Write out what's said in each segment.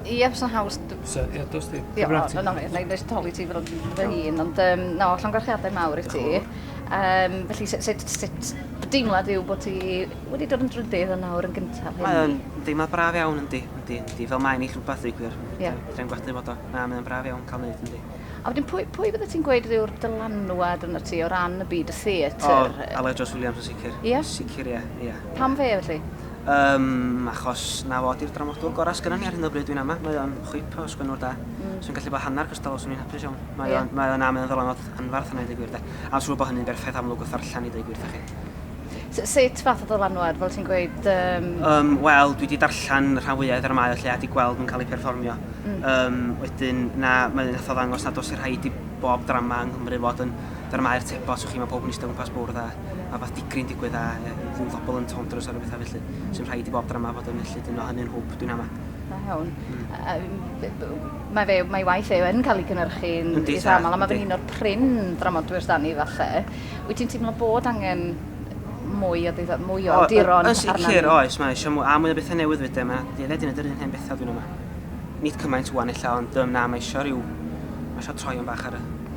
Ie, fysa'n haws. Sa, ie, dos di. Ie, o, no, no, na i nes toli ti fel fy hun, ond um, no, llongarchiadau mawr i ti. Um, felly, sut, sut, sut deimlad yw bod ti wedi dod yn drydydd yn nawr yn gyntaf hyn? Mae'n deimlad braf iawn, yndi, yndi, yndi. Fel mae'n eich rhywbeth i gwir. Ie. Yeah. Dwi'n gwadu bod o. Na, mae'n braf iawn cael neud, yndi. A wedyn, pwy, pwy bydde ti'n gweud yw'r dylanwad yn y ti o ran y byd y theatr? O, Aled Jones Williams yn sicr. Ie? Yeah? Sicr, ie, yeah, ie. Yeah. Pam fe, felly? Yym, achos 'na fo, 'di'r dramodwr gorau sgynnon ni ar hyn o bryd, dwi'n ama. Mae o'n chwip o sgwennwr da. Mm. Swn i'n gallu bod hanner cystal o, swn i'n hapus iawn. Mae o'n, mae o'n am yn ddylanwad anfarth yna i ddeud gwir de. A'n siŵr bod hynny'n berffaith amlwg wrth ddarllen i ddeud gwir thach chi. S- sut fath o ddylanwad, fel ti'n gweud? Um... Um, Wel, dwi wedi darllen rhan fwyaf ar y mae o lle a wedi gweld nhw'n cael eu perfformio. Mm. Um, wedyn, na, mae'n un eithaf ddangos nad os i'r rhaid i bob drama yng Nghymru fod yn Dyna mae'r tebot, so chi, mae pobl yn eistedd o gwmpas bwrdd a mae rhywbeth digri'n digwydd a ie, rhyw ddobl yn tondros a rhywbeth felly, sy'n rhaid i bob drama fod yn felly, dyna hynny'n hwb, dwi'n ama. Da iawn. Mm. mae fe, mae waith fe yn cael ei gynnyrchu'n eitha aml, a mae fe'n un o'r prin dramodwyr dan ni falle. Wyt ti'n teimlo bod angen mwy o, ddeuddo, mwy o awduron arnaf? Yn sicr, oes, mae eisiau mwy, a mwy o bethau newydd fyd, mae dyled yn edrych yn hen bethau dwi'n yma. Nid cymaint wan illa, ond um, na, mae eisiau rhyw, mae eisiau troion bach ar y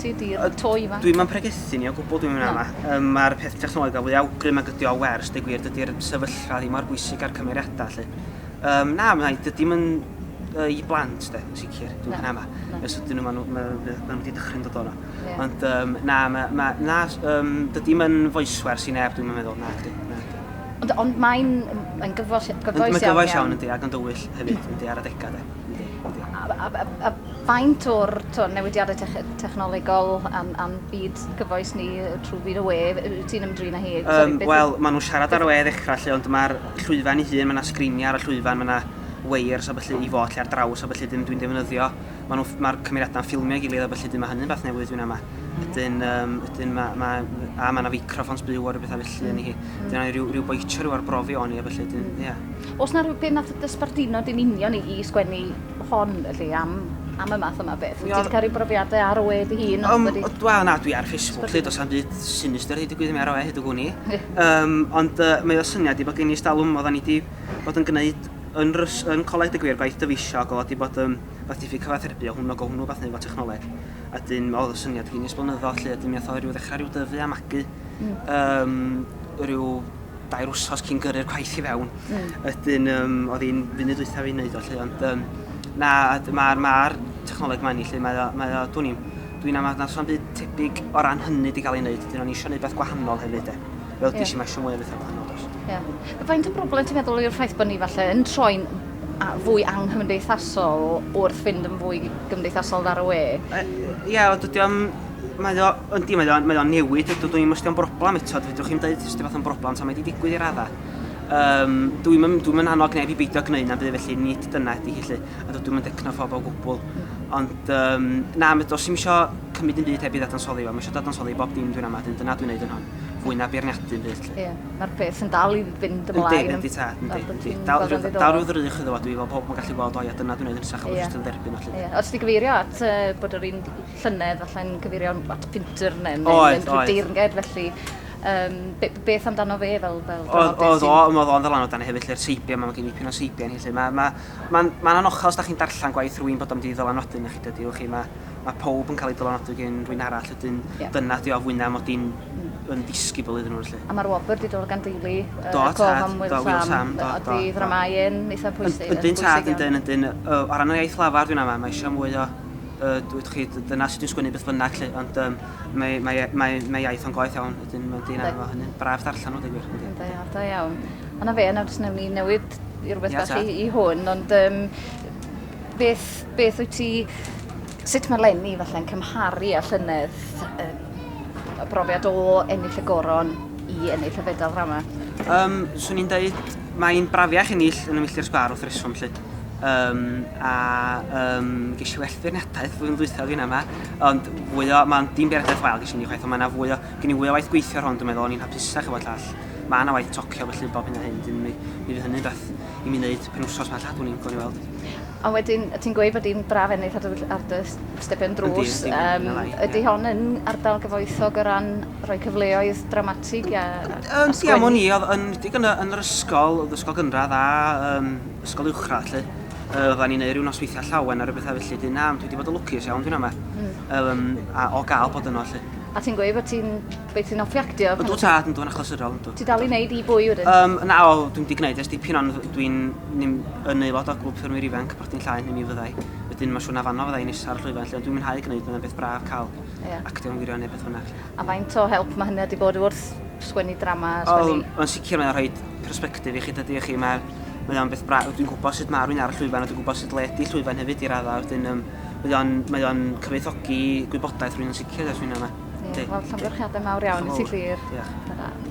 Ti di'r to ifanc. Dwi'm yn pregethu ni o gwbl dwi'n mynd yma. Um, Mae'r peth technoleg a fwy awgrym ag ydi o wers, dy gwir, dydy'r sefyllfa ddim mor bwysig ar cymeriadau lle. Um, na, mae'n rhaid, dydy'n yn uh, i blant, de, yn sicr, dwi'n mynd yma. Nes ydyn nhw, maen nhw wedi dychryn dod o'na. Yeah. Ond um, na, ma, ma, na um, dydy'n yn foeswers i neb, dwi'n meddwl, na, dydy. Na, dydy. Ond, ond mae'n yn gyfoes, gyfoes iawn. Mae'n gyfoes iawn, yndi, ac yn dywyll hefyd, yndi, ar adegau, de. A a a a faint o'r t'o' newidiade tech- technolegol a'n a'n byd gyfoes ni yy trw byd y we f- yy wyt ti'n ymdrin â hi? Yym sori beth yw... Wel ma' nw'n siarad ar y we ddechra 'lly ond ma'r llwyfan 'i hun ma' 'na sgrinie ar y llwyfan ma' 'na weirs a ballu i fod lle ar draws a ballu 'dyn dwi'n defnyddio ma' nw ff- ma'r cymeriada'n ffilmio i gilydd a ballu 'dyn ma' hynny'n fath newydd dwi'n ama. Wedyn yym wedyn ma' ma' yy a ma' 'na feicroffons byw a ryw betha felly yni hi. 'Dyn aru ryw ryw boitio ryw arbrofi ohoni a ballu 'dyn ia. Oes 'na rhyw beth nath dy sbarduno di'n union i i sgwennu hon felly am am y math yma beth? Wyt ti 'di ca'l rhyw brofiade ar ôl dy hun Yym wedi... o wel na dwi ar Facebook 'lly do's na'm byd sinister 'di digwydd i mi ar ôl hyd y gwn i. Yym ond yy mae o syniad i bo' gen i ers dalwm oddan ni 'di bod yn gneud yn rys- yn coleg deu' gwir gwaith dyfeisiog o'dd o 'di bod yn rwbath diffyg cyfathrebu o hwn ag o hwnnw wbath neu' efo technoleg a 'dyn o'dd y syniad gin i ers blynyddodd 'lly a 'dyn mi ath o ryw ddechra ryw dyfu a magu. Hmm. Yym ryw dair wsos cyn gyrru'r gwaith i fewn. Mm. Ydyn, um, oedd hi'n funud dwytha fi'n neud o lle, ond um, na, mae'r ma technoleg ma'n i lle, mae o, mae o, dwi'n i'n, dwi'n am adnas o'n byd tebyg o ran hynny di gael ei wneud, dyn o'n eisiau gwneud beth gwahanol hefyd e. Fel yeah. dys i mae eisiau mwy o bethau gwahanol dos. Yeah. Faint o broblem ti'n meddwl yw'r ffaith bod ni falle yn troi'n fwy anghymdeithasol wrth fynd yn fwy gymdeithasol ar y we? Ie, yeah, dydy o'n Mae o, yndi, mae o'n mae o newid, ydw, dwi'n ymwysdio yn broblem eto, dwi'n chi'n dweud sydd fath o'n broblem, so mae wedi digwydd i raddau. Um, dwi'n mynd, dwi mynd annog neb i beidio gwneud na'n byd felly, nid dyna ydy hi lle, a dwi'n mynd decno phob o gwbl. Ond, um, na, mae dos i'n eisiau cymryd yn byd heb i ddadansoddi fo, mae eisiau ddadansoddi bob dim dwi'n amad, dyna dwi'n neud yn hon, fwy na beirniadu yn byd. Ie, mae'r peth yn dal i fynd ymlaen. Yndi, yndi, ta, yndi, yndi. Dal rhyw ddrych iddo fo, dwi'n fel pob yn gallu gweld o, ia, dyna dwi'n neud yn sach, yeah. jyst yn dderbyn o lle. Yeah. Os di gyfeirio at uh, bod yr un llynedd, falle'n cyfeirio at Pinter neu yn rhyw deirnged, felly um, be, beth amdano fe fel, fel Oedd, oedd o, oedd o'n ddalan o dan hefyd lle'r teibio, mae'n gen i pyn o seibio ni, lle mae'n ma, ma, ma, ma anochel os da chi'n darllen gwaith rwy'n bod am di ddylanwadu na chi dydy, chi, mae ma pob yn cael ei dylanwadu gen rwy'n arall, ydyn yeah. dyna di o fwyna mod i'n mm. yn disgybl iddyn nhw, lle. A mae'r wobr di dod gan deulu, uh, do, tad, am Will Sam, do, do, do, ddramau yn eitha pwysig. Ydyn tad, ydyn, ydyn, o ran o iaith lafar dwi'n ama, mae eisiau mwy o uh, dweud chi, dyna sut dwi'n sgwynnu beth bynnag, lle, ond um, mae, mae, e, mae, mae iaith o'n goeth iawn, ydyn mae'n dyn arno hynny. Braf darllen nhw, digwyr. Da iawn, da iawn. A na fe, nawr jyst newn ni newid i rhywbeth bach i, i hwn, ond um, beth, beth wyt ti, sut mae Lenny falle'n cymharu a llynedd um, y brofiad o ennill y goron i ennill y fedal rama? Um, swn i'n dweud, mae'n brafiach ennill yn y milltir sgwar wrth reswm, lle. um, a um, ges i well feirniadaeth flwyddyn ddwythaf fi'n yma, ond fwy o, mae'n dim beirniadaeth wael ges i ni chwaith, ond mae yna fwy o, gen i fwy o waith gweithio ar hwn, dwi'n meddwl, o'n i'n hapusach efo llall. Mae yna waith tocio felly bob hyn a hyn, dwi'n mi, mi fydd hynny'n beth i mi wneud pen wsos mae llall, dwi'n i'n gwneud weld. A wedyn, ti'n gweud bod hi'n braf ennill ar dy, ar dy stepen drws. Yndi, yndi, um, yndi, ydy hon yn ardal gyfoethog o ran rhoi cyfleoedd dramatig a, a, a sgwennu? Ia, o'n i, oedd yn, yn, yn yr ysgol, oedd ysgol gynradd a um, ysgol uwchradd lle. Uh, oedden ni'n neud rhyw nosweithiau llawen ar y bethau felly, dyn na, dwi wedi bod y lwcus iawn dwi'n ama. Mm. Um, a o gael bod yno lle. A ti'n gweud bod ti'n beth sy'n offi actio? Ond dwi'n tad, dwi'n achlysurol. Ti dal i wneud i bwy wedyn? Um, na, o, dwi'n di gwneud ers dipyn ond dwi'n yn aelod o glwb ffyrmwyr ifanc, partyn llaen i mi fyddai. Wedyn mae siwna ar fanno fyddai nesa'r llwyfan lle, ond dwi'n mwynhau gwneud yna beth braf cael yeah. actio'n wirio neu beth fynnag. A faint o help mae hynny wedi bod wrth sgwennu drama? Sgwennu... O, yn sicr mae'n rhoi perspektif i chi, dydy chi, mae'r mae o'n beth braf, dwi'n gwybod sut mae rwy'n ar y llwyfan a dwi'n gwybod sut le ydy llwyfan hefyd i raddau, wedyn um, mae o'n, mae o'n cyfoethogi gwybodaeth rwy'n sicr dros rwy'n yna. Ie, wel, llongyfarchiadau mawr iawn i ti, Llyr. Diolch.